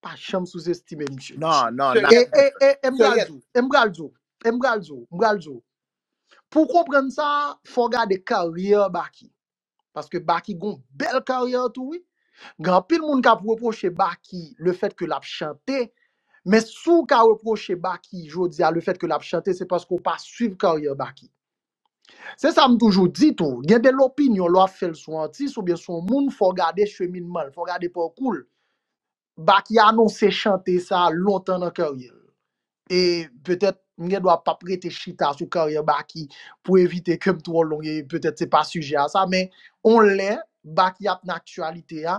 pa janm souzestime misye. Non, non, nan. E, e, e, e m pral Seriette. di w, e m pral di w, e m pral di w, m pral di w. Pou w konprann sa, fò w gade karyè Baky. Paske Baky gon bèl karyè tou wi. Gen anpil moun k ap repwoche Baky le fèt ke l ap chante, men si w ka repwoche Baky jodi a le fèt ke l ap chante se paske w pa swiv karyè Baky. Se sa m toujou di tou, gen de lopinyon lè w ap fè l sou atis oubyen sou yon moun fò w gade cheminman l, fò w gade pakou l. Baky anonse chante sa lontan nan karyè l. E petèt m gen dwa pap rete chita sou karyè Baky pou evite ke m twò long e petèt se pa sijè a sa men on lè Baky ap nan aktyalite a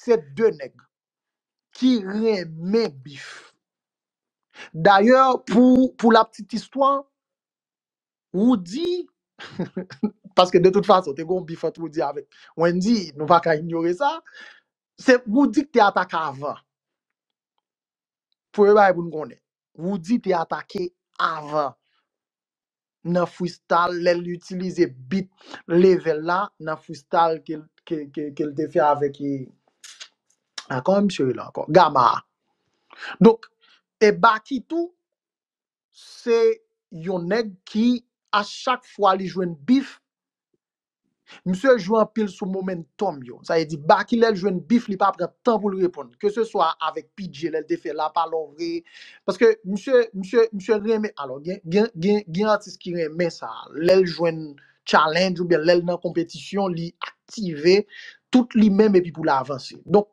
Se de nèg ki renmen bif. Dayè pou pou la ptit istwa, Roody, paske de tout fason te gen yon bif ant Roody avèk Wendy, nou pa ka inyore sa, se Roody ki te atake avan. Premye bagay pou nou konnen, Roody te atake avan. nan freestyle lè l itilize beat Level la nan freestyle ke l ke l te fè avèk a kòman misye rele ankò Gama a donk e Baky tou se yon nèg ki a chak fwa li jwenn beef Misye jwe anpil sou momentum yo. Sa vle di Baky lè l jwenn beef li pa pran tan pou l reponn. Ke se swa avèk PG lè l te fè la pa lò vre. Paske misye misye misye renmen alò gen gen gen gen atis ki renmen sa. Lè l jwenn challenge oubyen lè l nan konpetisyon li aktive tout li menm epi pou l avanse. Donk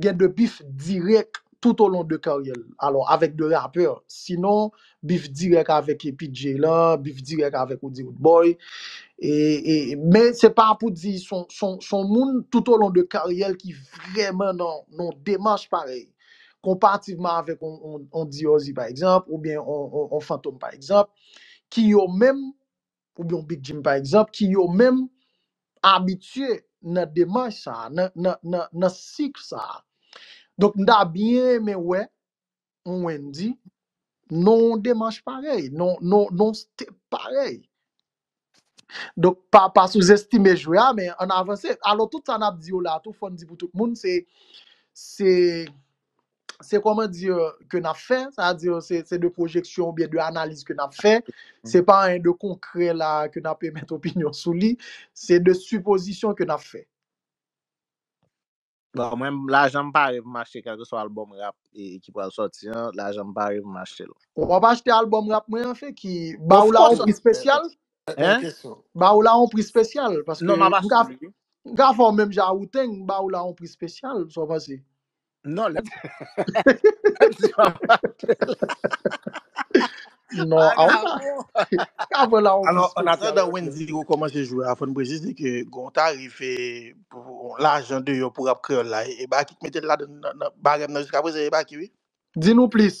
gen de bif dirèk tout olon de karyè l, alò avèk de rapè, sinon bif dirèk avèk P. Djay lan, bif dirèk avèk Woody Woodboy, e, e, men se pa pou di son, son, son moun tout olon de karyè l ki vrèman nan yon demach parèy, konparativman avèk yon, yon, yon Dieuzy pa egzanp, oubyen yon, yon, yon Fantom pa egzanp, ki yo menm oubyen yon Big Jim pa egzanp, ki yo menm abitye nan demach sa a, nan nan nan nan sik sa a. Donk m ta byen renmen wè yon Wendy nan yon demach parèy, nan nan nan yon step parèy. Donk pa pa souzestime jwè a men ann avanse. Alò tout sa n ap di yo la a tou fò n di pou tout moun se se se kòman di ke n ap fè, sa di se de pwojeksyon oubyen de analiz ke n ap fè, se pa anyen de konkrè la ke n ap emèt opinyon sou li, se de sipozisyon ke n ap fè. Bon, mwen m, lajan m pare pou m achte kèlkeswa albòm rap ki pral sòti an, lajan m pare pou m achte l. Ou pa p achte albòm rap mwen an, Feki? Ba ou la yon pri spesyal? Bèl kesyon. Ba ou la yon pri spesyal? Non, m ap achte l wi. M ka fè w menm jan a Wu-Tang, m ba ou la yon pri spesyal, sa w panse? Non lè lè di yo ap pale Non, a ou ka, anavon. ka pran la ou Alò, fi an spesyal atandan anmweyy. Wendy rekòmanse jwe a, fò n presize ke gon tarif e pou lajan deyò pou rap kreyòl la, e Baky k mete l ladann nan nan barèm nan jiskaprezan e Baky wi. Di nou plis.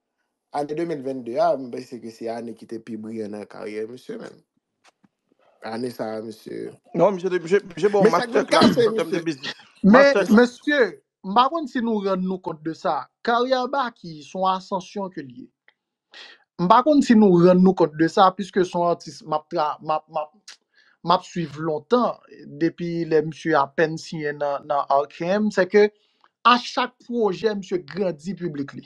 Ane 2022 a, mwen panse ke se ane ki te pi briyan nan karyè misye menm. Ane sa a misye. Non, misye te misye misye bon Men sak master vin class kase nan tèm de misye. biznis. Men, Master class. mesye, m pa konn si nou rann nou kont de sa. Karyè Baky son asansyon ke l ye. M pa konn si nou rann nou kont de sa, piske son atis m ap tra m ap m ap m ap suiv lontan, depi lè misye apèn siyen nan nan RKM, se ke a chak pwojè misye grandi piblik li.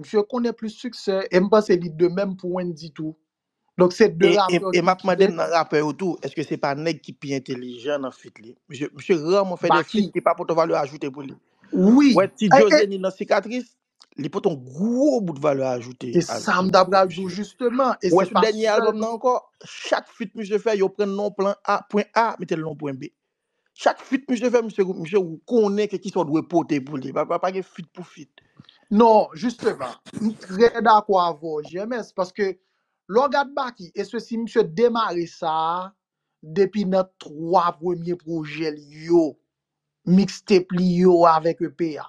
Misye konnen plis siksè e m panse li de menm pou Wendyy tou. Donk se 2 E, e, rapè e ki map mande m kite. nan rapè yo tou, eske se pa nèg ki pi entelijan nan fit li? Misye, misye raman fè de Baky. fit ki pa pote valè ajoute pou li. Wi. Ou wè ti E, Djo e, Zeni nan Sikatris, li pote yon gwo bout valè ajoute se al sa m ta pral di w misye. jisteman e Ou wè se sou pa dènye sèl. albòm nan ankò, chak fit misye fè yo pran l nan yon plan A, pwen A, mete l nan yon pwen B. Chak fit misye fè misye misye ou konnen ke kisa ou dwe pote pou li. Pa pa pa gen fit pou fit. Non, jisteman, m trè dakò avè w GMS, paske lè w gad Baky, espesi misye demare sa a depi nan 3 premye pwojè l yo, mixtape li yo avèk EP a.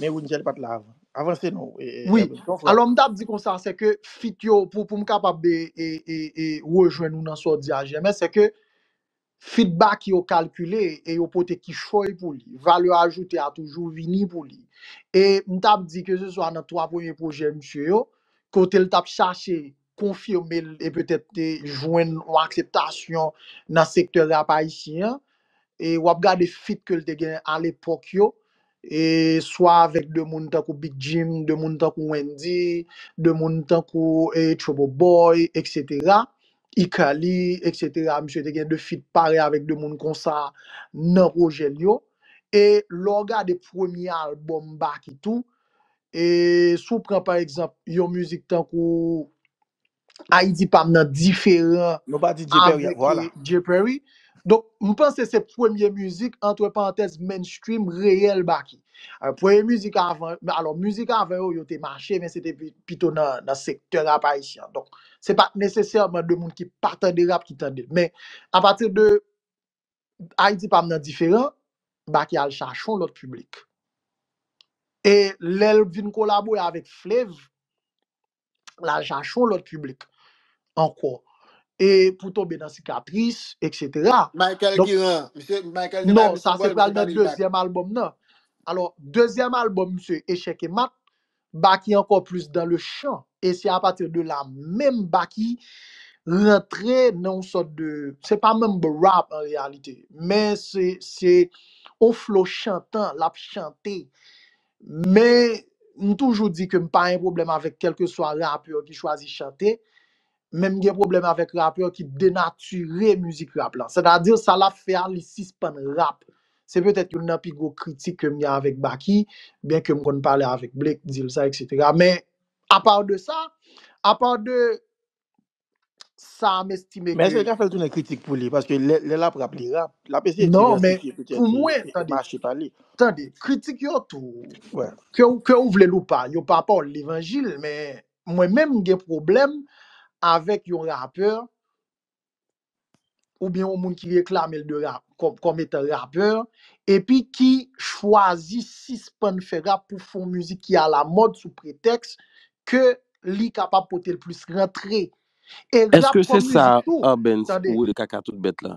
Men Winjel pat la avan. Avanse non Wi, Hermine, ton frè. alò m t ap di konsa se ke fit yo pou pou m kapab e e e e rejwenn ou nan sa w di a Jèmè se ke fit Baky yo kalkile e yo pote kichòy pou li, valè ajoute a toujou vini pou li. E m t ap di ke se swa nan 3 premye pwojè misye yo, kote l t ap chache konfime l e petèt te jwenn yon akseptasyon nan sektè rap ayisyen an, e w ap gade fit ke l te gen alepòk yo, e swa avèk de moun tankou Big Jim, de moun tankou Wendy, de moun tankou e Trouble Boy eksetera, Ikali eksetera, misye te gen de fit parèy avèk de moun konsa nan pwojè l yo, e lè w gade premye albòm Baky tou, E si w pran pa egzanp yon mizik tankou Ayiti pa m nan diferan Nou pa di Dye Pèri a, avèk vwala. Dye Pèri. Donk, m panse se premye mizik, antre parantèz, mainstream, reyèl Baky. Alò, premye mizik avan, alò, mizik avan yo, yo te mache, men se te pi- pito nan, nan sektè rap ayisyen an. Donk, se pa t nesesèman de moun ki pa tande rap ki tande l. Men, apati de Ayiti pam nan diferan, Baky al chache yon lòt piblik. E lè l vin kolabore avèk Flev, l al chache yon lòt piblik ankò. E pou tonbe nan Sikatris, eksetera. Michael ki ran? Misye, Michael te bay Non, misye sa se bòl, pral misye nan bay li bak. dezyèm albòm nan. Alò, dezyèm albòm misye, Echèk e Mat, Baky ankò plis dans le chan e se apatir de la menm Baky rantre nan yon sòt de, se pa menm rap an reyalite men se se yon flo chantan lap chante men m toujou di ke m pa gen pwoblèm avèk kèlkeswa rapè ki chwazi chante Menm gen pwoblèm avèk rapè ki denatire mizik rap la. Sètadi sa l ap fè a li sispann rap. Se petèt youn nan pi gwo kritik ke m gen avèk Baky, byen ke m konn pale avèk Blake, di l sa eksetera. Men, apa de sa, apa de sa m estime Men èske l ke. ka fè l tounen kritik pou li? Paske lè, lè l ap rap, li rap. L ap eseye Non, men, diversifye petèt pou e, mwen, e tande, mache pa li. tande, kritik yo tou, Wè. ke ou, ke ou vle l ou pa, yo pa pa w levanjil, men Mwen menm m gen pwoblèm avèk yon rapè oubyen yon moun ki reklame l de rap kòm kòm etan rapè epi ki chwazi sispann fè rap pou fè yon mizik ki alamòd sou pretèks ke li kapab pote l plis rantre e Èske rap se kòm sa mizik tou Urbanz tande. ou Kaka tout bèt la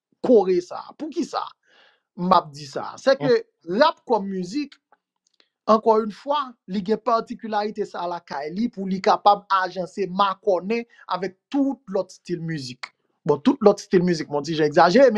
kore sa a. Poukisa m ap di sa a? Sèke rap kòm mizik, ankò youn fwa, li gen patikilarite sa a lakay li pou li kapab ajanse, makònen avèk tout lòt stil mizik. Bon, tout lòt stil mizik, m wè yon ti jan egzajere men.